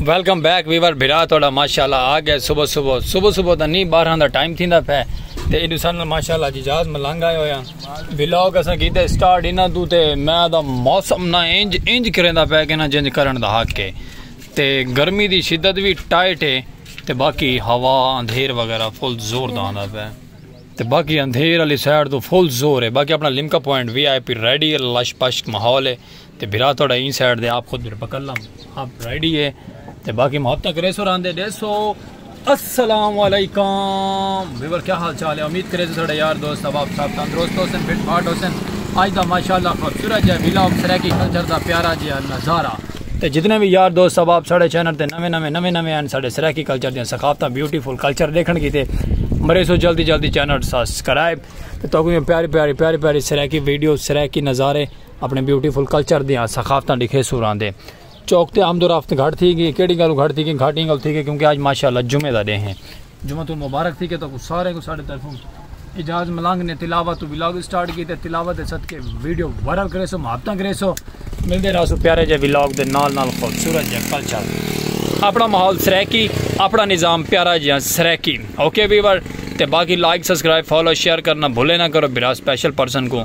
Welcome back viewer بھرا تہاڈا ماشاءاللہ آ گئے صبح صبح صبح صبح دا نہیں 12 دا ٹائم تھیندا پے تے ایڈو سن ماشاءاللہ جی جاز ملنگ آئے ہویا ولاگ اساں کیتے سٹارٹ انہاں تو تے میں دا موسم نہ انج انج کریندا پے کہ نہ جنج کرن دا حق ہے تے گرمی دی شدت وی ٹائٹ ہے تے باقی ہوا اندھیر وغیرہ فل زور دا آندا پے تے باقی اندھیر علی سائیڈ تو فل زور ہے باقی اپنا Limca point V I P ready لش پشک ماحول ہے تے بھرا تہاڈا ایں سائیڈ دے آپ خود میرے پکڑ لم آپ رائیڈی ہے تے باقی محبت تک ریسو راندے ڈیسو السلام علیکم ویور کیا حال چال ہے امید کرے تو ساڑھے یار دوست اب آپ صاحب تندرست ہو سن فٹ فاٹ ہو سن آج دا ماشاءاللہ خوبصورت جائے ویلا اب سرے کی کلچر دا پیارا جی نظارہ تے جتنے بھی یار دوست اب آپ ساڑھے چینر تے نوے نوے نوے نوے ہیں ساڑھے سرے کی کلچر دیا سخافتہ بیوٹیفل کلچر دیکھن کی تے مرے سو جلدی جلدی چینر سبسکرائب تے تو کوئی پیاری پیاری پیاری پیاری سرے کی ویڈیو سرے کی نظارے اپݨے بیوٹی فل کلچر دیاں ثقافتاں ݙکھے سوراں دے چوک تے آمد و رفت گھٹ تھی گی کیڑی گالوں گھٹ تھی گی گھٹ ایں گالوں تھی گی کیونکہ آج ماشاءاللہ جمعہ دا ݙینہ ہے جمعہ تو مبارک تھی گے تو کو سارے کو ساڈے طرفوں اجاز ملنگ نے تلاوت تو ولاگ اسٹارٹ کیتے تلاوت دے صدقے ویڈیو وائرل کرے سو محبتاں کرے سو مل دے راسو پیارے جے ولاگ دے نال نال خوبصورت جے کلچر اپنا ماحول سریکی اپنا نظام پیارا جے سریکی اوکے ویور تے باقی لائک سبسکرائب فالو شیئر کرنا بھولے نہ کرو برا سپیشل پرسن کو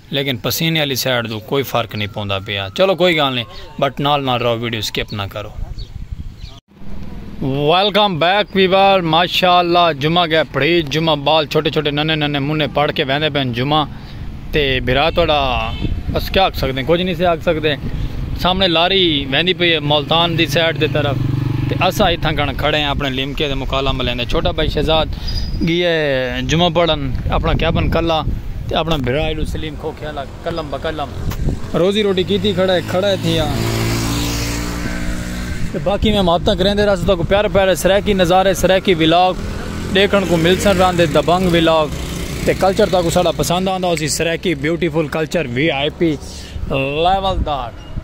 لیکن پسینے آلی سائیڈ توں کوئی فرق نی پوندا پیا چلو کوئی گال نی بٹ نال نال رہو ویڈیو سکپ نہ کرو۔ ویلکم بیک ویور ماشاءاللہ جمعہ گئے پڑھی جمعہ بال چھوٹے چھوٹے ننے ننے منے پڑ کے ویندے پین جمعہ تے بھرا توڑا بس کیا آکھ سکتے ہیں کچھ نہیں سے آکھ سکتے سامنے لاری ویندی پی ملتان دی سائیڈ دے طرف تے اسا ہی تھا کھڑے کھڑے ہیں اپنے لیمکے دے مکالم لیندے چھوٹا بھائی شہزاد گیا جمعہ پڑھن اپنا کیبن کلا تے اپݨا بھرا ایلو سلیم کھوکھیا لڳ قلم بقلم روزی روٹی کیتی کھڑا ہے کھڑا ہے تھیا تے باقی میں محبتاں کریندے رہسوں تاکوں پیارے پیارے سرائیکی نظارے سرائیکی ولاگ ݙیکھݨ کوں ملسن رہندے دبنگ ولاگ تے کلچر تاکوں ساݙا پسند آندا ہوسی Saraiki beautiful culture V I P level دا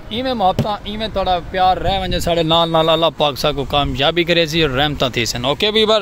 ایویں محبتاں ایویں تہاݙا پیار رہ ونڄے ساݙے نال نال اللہ پاک ساکوں کامیابی کریسی رحمتاں تھیسن اوکے ویور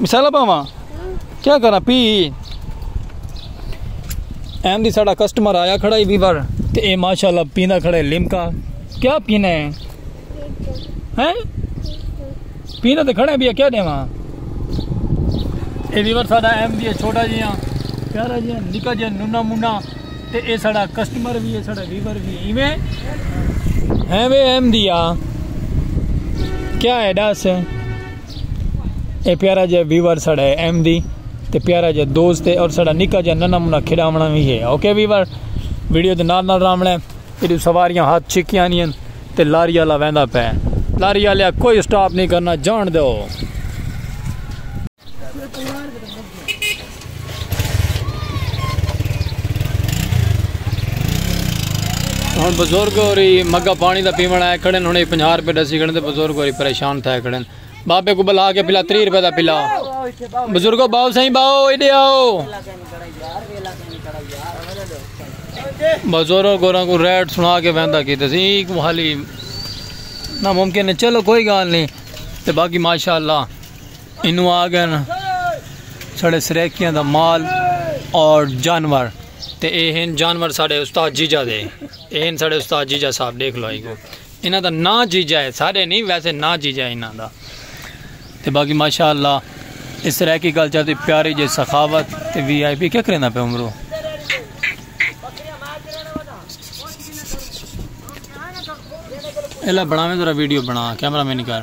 مثال پاواں کیا کرا پی ایم دی ساڑا کسٹمر آیا کھڑا ہی ویور تے اے ماشاءاللہ پینا کھڑا ہے لمکا کیا پینا ہے ہیں پینا تے کھڑا ہے بیا کیا دیواں اے ویور ساڑا ایم دی چھوٹا جی ہاں پیارا جی ہاں نکا جی نونا مونا تے اے ساڑا کسٹمر بھی ہے ساڑا ویور بھی ہے ایویں ہیں وے ایم دی ہاں کیا ہے ڈاس ہے اے پیارا جے ویور ساڑا ہے ایم دی تے پیارا جے دوست ہے اور ساڑا نکا جے ننا منا کھڑاونا بھی ہے اوکے ویور ویڈیو دے نال نال راونا ہے ایڈو سواریاں ہاتھ چھکیاں نہیں ہیں تے لاری والا ویندا پے لاری والے کوئی سٹاپ نہیں کرنا جان دو ہن بزرگ ہوری مگا پانی دا پیوݨ آئے کھڑن ہن 50 روپے ڈسی کھڑن تے بزرگ ہوری پریشان تھے کھڑن بابے کو بلا کے پلا 30 روپے دا پلا بزرگو باو سائیں باو ایڈے آو بزرگ ہوراں کو ریٹ سنا کے ویندا کیتے سی کو حالی ناممکن ہے چلو کوئی گال نہیں تے باقی ماشاءاللہ اینوں آگن ساڑے سریکیاں دا مال اور جانور تے اے ہن جانور ساڑے استاد جیجا دے اے ہن ساڑے استاد جیجا صاحب دیکھ لو ایگو انہاں دا نا جیجا ہے سارے نہیں ویسے نا جیجا ہے انہاں دا تے باقی ماشاءاللہ اس سریکی کلچر دی پیاری جے سخاوت تے وی آئی پی کیا کرنا پہ عمرو اللہ بڑھاویں ذرا ویڈیو بنا کیمرہ میں نکار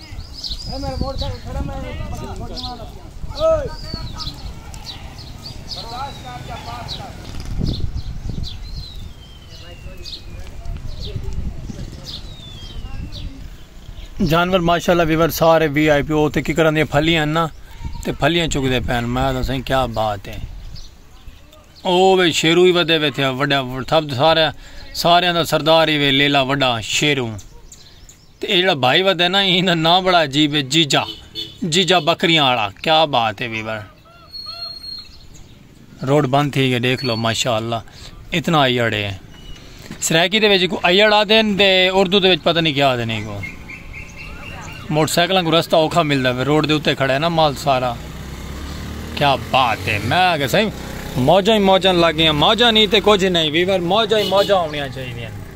جانور ماشاءاللہ ویور سارے وی آئی پی او تے کی کرن دے پھلیاں نا تے پھلیاں چک دے پین میں تو سائیں کیا بات ہے او وے شیرو ہی ودے وے تھے وڈا سب سارے سارے دا سردار ہی وے لیلا وڈا شیرو تے اے جیڑھا بھائی ودے نا ایں دا ناں بڑا عجیب ہے جیجا جیجا بکریاں آڑا کیا بات ہے ویور روڈ بند تھی گئے دیکھ لو ماشاءاللہ اتنا ایڑے ہیں سرائیکی دے ویچے کو ایڑ آ دین دے اردو دے ویچے پتہ نہیں کیا آ دین کو موٹر سائیکلوں کو رستہ اوکھا مل دا روڈ دے اتے کھڑا ہے نا مال سارا کیا بات ہے میں آگے سائیں موجہ ہی موجہ لگے ہیں موجہ نہیں تے کچھ نہیں ویور موجہ ہی موجہ ہونیاں چاہیے ہیں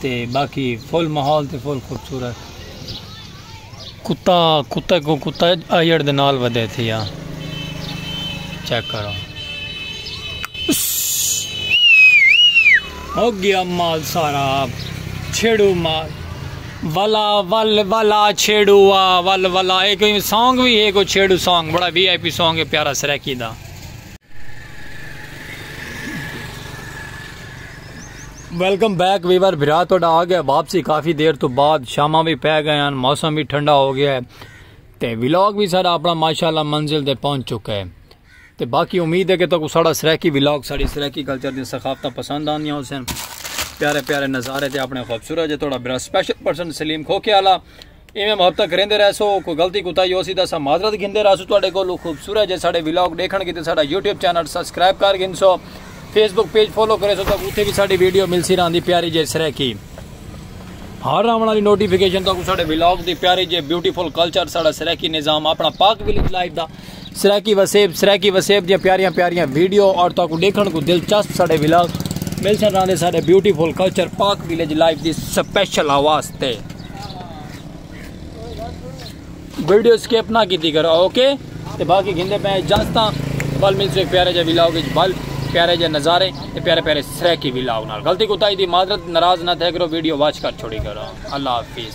تے باقی فل ماحول تے فل خوبصورت کتا کتا کو کتا آئیڑ دے نال ودے تھے یا چیک کرو ہو گیا مال سارا چھیڑو مال والا ول والا چھیڑو آ ول والا اے کوئی سانگ بھی ہے کوئی چھیڑو سانگ بڑا وی آئی پی سانگ ہے پیارا سریکی دا ویلکم بیک ویور بھرا تہاڈا آ گیا واپسی کافی دیر تو بعد شاماں بھی پہ گئے ہیں موسم بھی ٹھنڈا ہو گیا ہے تے ولاگ بھی سارا اپنا ماشاءاللہ منزل دے پہنچ چکا ہے تے باقی امید ہے کہ تکو سارا سرائیکی ولاگ ساری سرائیکی کلچر دی ثقافتاں پسند آندیاں ہو سن پیارے پیارے نظارے تے اپنے خوبصورت جے تہاڈا بھرا سپیشل پرسن سلیم کھوکے والا ایویں محبتاں کریندے رہسو کوئی غلطی کوتاہی ہوسی تاں اساں معذرت گھندے رہسوں تہاڈے کولوں خوبصورت جے ساڈے ولاگ ڈیکھن کیتے ساڈا یوٹیوب چینل سبسکرائب کر گھنسو فیس بک پیج فالو کریسو تاں اوتھے وی ساڈی ویڈیو ملسی راہندی پیاری جے سرائیکی ہر راوݨ والی نوٹیفیکیشن تہاکوں ساڈے ولاگ دی پیاری جے بیوٹیفل کلچر ساڈا سرائیکی نظام اپنا پاک ولیج لائف دا سرائیکی وسیب سرائیکی وسیب دیاں پیاریاں پیاریاں ویڈیو اور تاکو دیکھن کو دلچسپ ساڑے ولاگ مل سن راندے ساڑے beautiful culture Pak village life دی سپیشل آواز تے ویڈیو سکیپ نہ کیتی کرو اوکے تے باقی گھندے پہ اجازتاں بل مل سو ایک پیارے جا ولاگ اچ بل پیارے جا نظارے تے پیارے پیارے سرائیکی ولاگ نال غلطی کوتاہی دی معذرت ناراض نہ تھے کرو ویڈیو واچ کر چھوڑی کرو اللہ حافظ